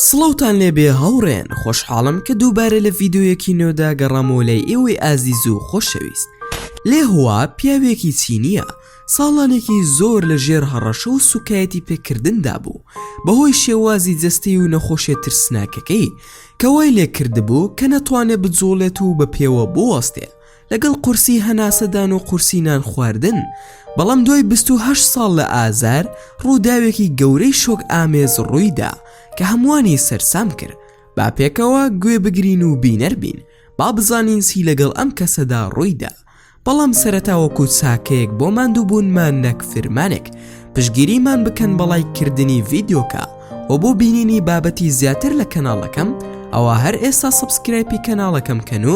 سڵاوتان لێبێ هاوڕێیان خۆشحاڵم کە دووبارە لە ڤیددیویەکی نۆدا گەڕامەوە لای ئێوەی ئازیز و خۆشەویست لێ هوا پیاوێکی چینیە ساڵانێکی زۆر لە ژێر هەڕەشە و سوکایەتی پێکردندا بوو بەهۆی شێوازی جەستی و نەخۆشێ ترسناکەکەی کەوای لێ کردبوو کە نەتوانێت بجوڵێت و بە پێوە بوەستێ لەگەڵ قورسی هەناسەدان و قورسی نان خواردن، بەڵام دوای بیست و هەشت ساڵ لە ئازار، ڕووداوێکی گەورەی شۆکئامێز ڕووی دا کە هەمووانی سەرسام کرد، با پێکەوە گوێ بگرین و بینەر بین، با بزانین چی لەگەڵ ئەم کەسەدا ڕووی دا. بەڵام سەرەتا وەکوو چاکەیەک بۆ ماندووبوونمان نەک فرمانێک، پشتگیریمان بکەن بە ڵایک کردنی ڤیدیۆکە و بۆ بینینی بابەتی زیاتر لە کەناڵەکەم ئەوا هەر ئێستا سەبسکرایپی کەناڵەکەم کەن و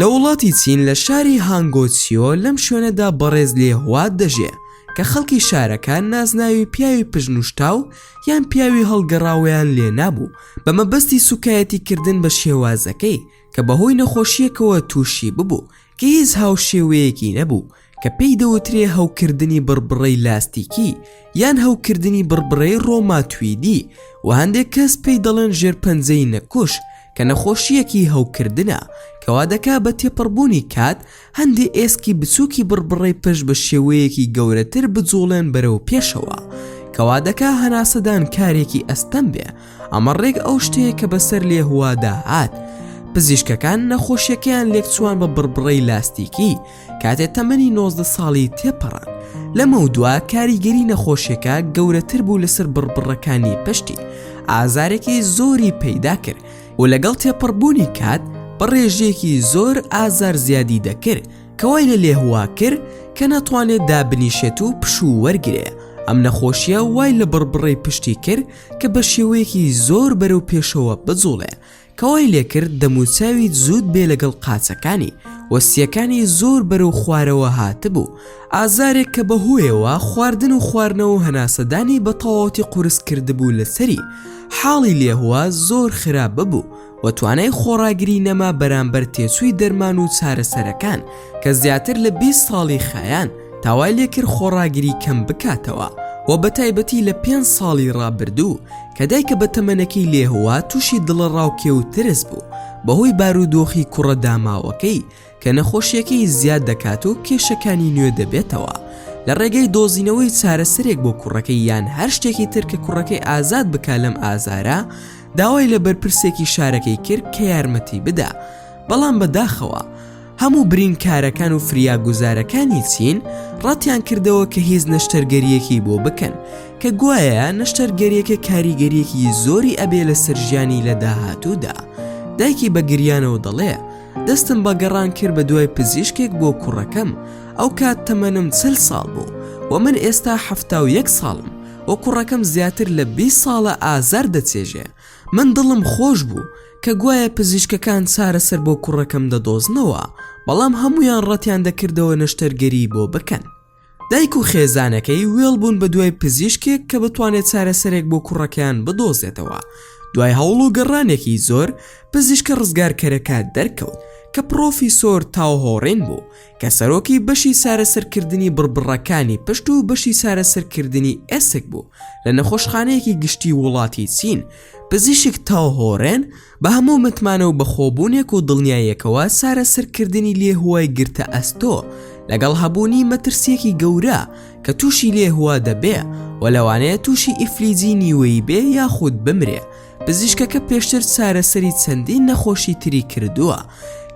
لە وڵاتی چین لە شاری هانگۆچیۆ لەم شوێنەدا بەڕێز لێ هوات دەژێ کە خەڵکی شارەکە نازناوی پیاوی پژنوشتاو یان پیاوی هەڵگەڕاوەیان لێ نابوو بە مەبەستی سوکایەتی کردن بە شێوازەکەی کە بەهۆی نەخۆشیەکەوە تووشی ببوو گیز هاوشێوەیەکی نەبوو کە پێی دەوترێ هەوکردنی بڕبڕەی لاستیکی یان هەوکردنی بڕبڕەی ڕۆماتویدی و هەندێک کەس پێی دەڵێن ژێرپەنجەی نەکوش کە نەخۆشییەکی هەوکردنە کەوا دەکا بە تێپەڕبوونی کات هەندێ ئێسکی بچووکی بڕبڕەی پشت بە شێوەیەکی گەورەتر بجوڵێن بەرەو پێشەوە کەوا دەکا هەناسەدان کارێکی ئەستەم بێ ئەمە ڕێک ئەو شتەیە کە بەسەر لێهوادا هات پزیشکەکان نەخۆشیەکەیان لێکچوان بە بڕبڕەی لاستیکی کاتێ تەمەنی 90 ساڵی تێپەڕان لەمە و دوا کاریگەری نەخۆشیەکە گەورەتر بوو لەسەر بڕبڕەکانی پشتی ئازارێکی زۆری پەیدا کرد و لەگەڵ تێپەڕبوونی کات بە ڕێژەیەکی زۆر ئازار زیادی دەکرد کەوای لە لێهوا کرد کە ناتوانێت دابنیشێت و پشوو وەرگێ ئەم نەخۆشیە وای لە بڕبڕی پشتی کرد کە بە شێوەیەکی زۆر بەرەو پێشەوە بجوڵێ کەوای لێکرد دەموچاوی زود بێ لەگەڵ قاچەکانی وەستیەکانی زۆر بەرەو خوارەوە هاتبوو ئازارێک کە بە هۆیەوە خواردن و خواردنەوە هەناسەدانی بە تەواوەتی قورس کردبوو لەسەری حاڵی لێهوە زۆر خراپ ببوو و توانای خۆڕاگری نەما بەرامبەر تێچووی دەرمان و چارەسەرەکان کە زیاتر لە بیست ساڵی خایاند تاوای لێکرد خۆڕاگری کەم بکاتەوە و بە تایبەتی لە پێنج ساڵی ڕابردوو کە دایکە بە تەمەنەکەی لێهوا تووشی دڵەڕاوکێ و ترس بوو بەهۆی بارودۆخی کوڕە داماوەکەی کە نەخۆشییەکەی زیاد دەکات و کێشەکانی نوێ دەبێتەوە، لە ڕێگەی دۆزینەوەی چارەسەرێک بۆ کوڕەکەی یان هەر شتێکی تر کە کوڕەکەی ئازاد بکا لەم ئازارە، داوای لە بەرپرسێکی شارەکەی کرد کە یارمەتی بدا، بەڵام بەداخەوە هەموو برینکارەکان و فریاگوزارەکانی چین ڕەتیان کردەوە کە هیچ نەشتەرگەرییەکی بۆ بکەن، کە گوایە نەشتەرگەرییەکە کاریگەرییەکی زۆری ئەبێ لەسەر ژیانی لە داهاتوودا، دایکی بە گریانەوە دەڵێ. دەستم بە گەڕان کرد بە دوای پزیشکێک بۆ کوڕەکەم ئەو کات تەمەنم چل ساڵ بوو و من ئێستا حەفتا و یەک ساڵم و کوڕەکەم زیاتر لە بی ساڵە ئازار دەچێژێ من دڵم خۆش بوو کە گوایە پزیشکەکان چارەسەر بۆ کوڕەکەم دەدۆزنەوە بەڵام هەمویان ڕەتیان دەکردەوە نەشتەرگەری بۆ بکەن دایک و خێزانەکەی وێڵ بوون بە دوای پزیشکێک کە بتوانێت چارەسەرێک بۆ کوڕەکەیان بدۆزێتەوە دوای هەوڵ و گەڕانێکی زۆر پزیشکە ڕزگارکەرەکە دەرکەوت کە پرۆفیسۆر تاوهۆڕین بوو کە سەرۆکی بەشی چارەسەرکردنی بڕبڕەکانی پشت و بەشی چارەسەرکردنی ئێسک بوو لە نەخۆشخانەیەکی گشتی وڵاتی چین پزیشک تاوهۆرێن بە هەموو متمانە و بەخۆبوونێک و دڵنیاییەکەوە چارەسەرکردنی لێهوا ی گرتە ئەستۆ لەگەڵ هەبوونی مەترسییەکی گەورە کە تووشی لێهوا دەبێ و لەوانەیە تووشی ئیفلیجی نیوەیی بێ یاخود بمرێ پزیشکەکە پێشتر چارەسەری چەندین نەخۆشی تری کردووە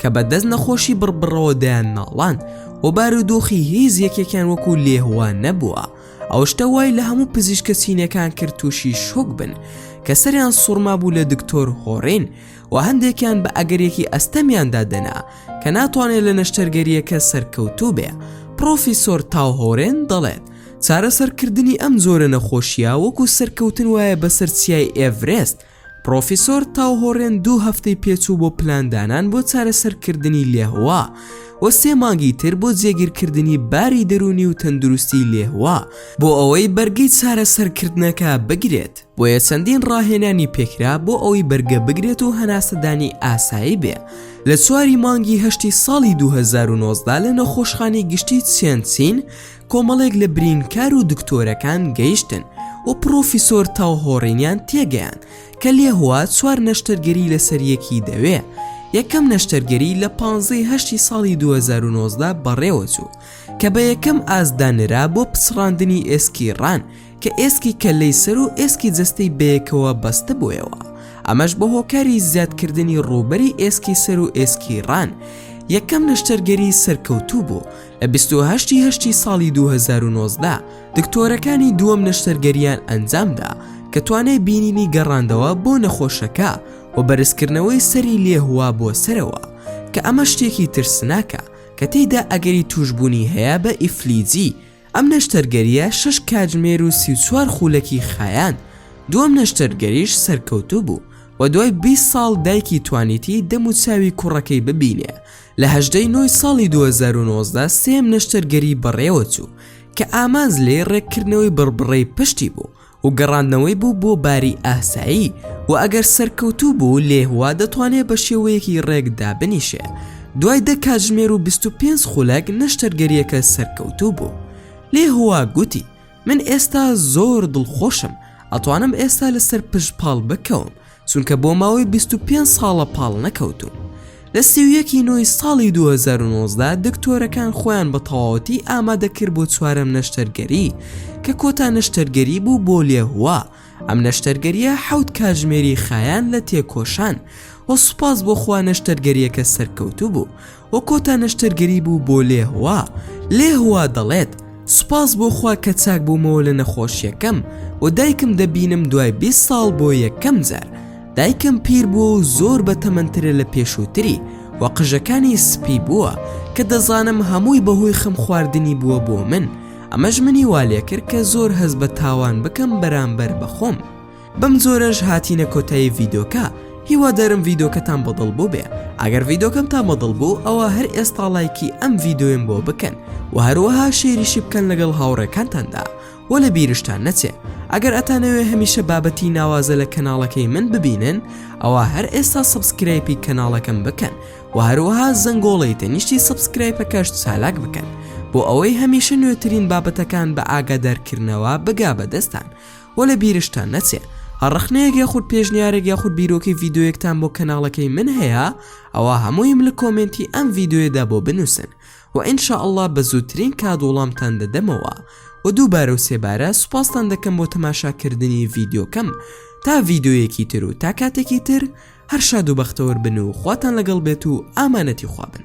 کە بە دەست نەخۆشی بڕبڕەوە دەیان ناڵاند و بارودۆخی هیچ یەکێکیان وەکو لێهوا نەبووە ئەو شتە وای لە هەموو پزیشکە چینەکان کرد تووشی شۆک بن کە سەریان سوڕما بوو لە دکتۆر هۆڕین و هەندێکیان بە ئەگەرێکی ئەستەمیاندا دەنا کە ناتوانێت لە نەشتەرگەریەکە سەرکەوتوو بێ پرۆفیسۆر تاوهۆرێن دەڵێت چارەسەرکردنی ئەم زۆرە نەخۆشیە وەکو سەرکەوتن وایە بەسەر چیای ئێڤرێست پڕۆفیسۆر تاو هۆڕێن دوو هەفتەی پێچوو بۆ پلاندانان بۆ چارەسەرکردنی لێهوا و سێ مانگی تر بۆ جێگیرکردنی باری دەرونی و تەندروستی لێهوا بۆ ئەوەی بەرگەی چارەسەرکردنەکە بگرێت بۆیە چەندین ڕاهێنانی پێکرا بۆ ئەوەی بەرگە بگرێت و هەناسەدانی ئاسایی بێ لە چواری مانگی هەشتی ساڵی 2009دا لە نەخۆشخانی گشتی چێنچین کۆمەڵێک لە برینکار و دکتۆرەکان گەیشتن و پڕۆفیسۆر تاو هۆڕینیان تێگەیان کە لێهوا چوار نەشتەرگەری لەسەر یەکی دەوێ یەکەم نەشتەرگەری لە پانزەی هەشتی ساڵی 2009دا بەڕێوەچوو کە بە یەکەم ئاستدا نرا بۆ پچڕاندنی ئێسکی ڕان کە ئێسکی کەللەی سەر و ئێسکی جەستەی بەیەکەوە بەستبوویەوە، ئەمەش بە هۆکاری زیادکردنی ڕووبەری ئێسکی سەر و ئێسکی ڕان، یەکەم نەشتەرگەری سەرکەوتوو بوو، لە بیست و هەشت ی هەشتی ساڵی دوو هەزار و نۆزدە دکتۆرەکانی دووەم نەشتەرگەرییان ئەنجامدا کە توانای بینینی گەڕاندەوە بۆ نەخۆشەکە و بەرزکردنەوەی سەری لێهووا بۆ سەرەوە کە ئەمە شتێکی ترسناکە کە تێیدا ئەگەری تووشبوونی هەیە بە ئیفلیجی ئەم نەشتەرگەرییە شەش کاتژمێر و سی و چوار خوولەکی خایاند، دووەم نەشتەرگەریش سەرکەوتوو بوو و دوای بیست ساڵ دایکی توانیتی دەم و چاوی کوڕەکەی ببینێ. لە هەژدە ی نۆ ی ساڵی دوو هەزار و نۆزدە سێیەم نەشتەرگەری بەڕێوەچوو کە ئامانج لێی ڕێککردنەوەی بڕبڕەی پشتی بوو، و گەڕاندنەوەی بوو بۆ باری ئاسایی و ئەگەر سەرکەوتوو بوو لێهوا دەتوانێت بە شێوەیەکی ڕێک دابنیشێ دوای دە کاتژمێر و 25 خولەک نەشتەرگەریەکە سەرکەوتوو بوو لێهوا گوتی من ئێستا زۆر دڵخۆشم ئەتوانم ئێستا لەسەر پشت پاڵ بکەوم چونکە بۆ ماوەی 25 ساڵە پاڵ نەکەوتوون. لە سی و یەک ی نۆی ساڵی 2019 دا دکتۆرەکان خۆیان بە تەواوەتی ئامادە کرد بۆ چوارەم نەشتەرگەری کە کۆتا نەشتەرگەری بوو بۆ لێهوا ئەم نەشتەرگەریە حەوت کاژمێری خایاند لە تێکۆشان و سوپاس بۆ خوا نەشتەرگەریەکە سەرکەوتوو بوو و کۆتا نەشتەرگەری بوو بۆ لێهوا، لێهوا دەڵێت، سوپاس بۆ خوا کە چاک بوومەوە لە نەخۆشییەکەم و دایکم دەبینم دوای بیست ساڵ بۆ یەکەم جار، دایکم پیر بووە و زۆر بەتەمەنترە لە پێشووتری و قژەکانی سپی بووە، کە دەزانم هەمووی بەهۆی خەم خواردنی بووە بۆ من، ئەمەش منی وا لێکرد کە زۆر هەست بە تاوان بکەم بەرامبەر بە خۆم. بەم جۆرەش هاتینە کۆتایی ڤیدۆکە هیوادارم ڤیدۆکەتان بەدڵ بوو بێ ئەگەر ڤیدۆکەم تا بەدڵ بوو ئەوە هەر ئێستا لایکی ئەم ڤیدۆیم بۆ بکەن و هەروەها شێریشی بکەن لەگەڵ هاوڕێکانتاندا و لە بیرشتان نەچێ ئەگەر ئەتانەوێ هەمیشە بابەتی ناوازە لە کەناڵەکەی من ببینن ئەوە هەر ئێستا سبسکرایپی کەناڵەکەم بکەن و هەروەها زەنگۆڵی تەنیشتی سبسکرایپەکەش چالاک بکەن بۆ ئەوەی هەمیشە نوێترین بابەتەکان بە ئاگادارکردنەوە بگا بەدەستان وە لە بیرشتان نەچێ هەر ڕەخنەیەک یاخود پێشنیارێک یاخود بیرۆکەی ڤیددیویەکتان بۆ کەناڵەکەی من هەیە ئەوە هەموویم لە کۆمێنتی ئەم ڤیددیوێدا بۆ بنووسن و ئینشا ئەلله بە زووترین کات وڵامتان دەدەمەوە و دووبارە و سێبارە سوپاستان دەکەم بۆ تەماشاکردنی ڤیددیوکەم تا ڤیددیویەکی تر و تا کاتێکی تر هەر شاد و بەختەوەر بن و خواتان لەگەڵ بێت و ئامانەتی خوابن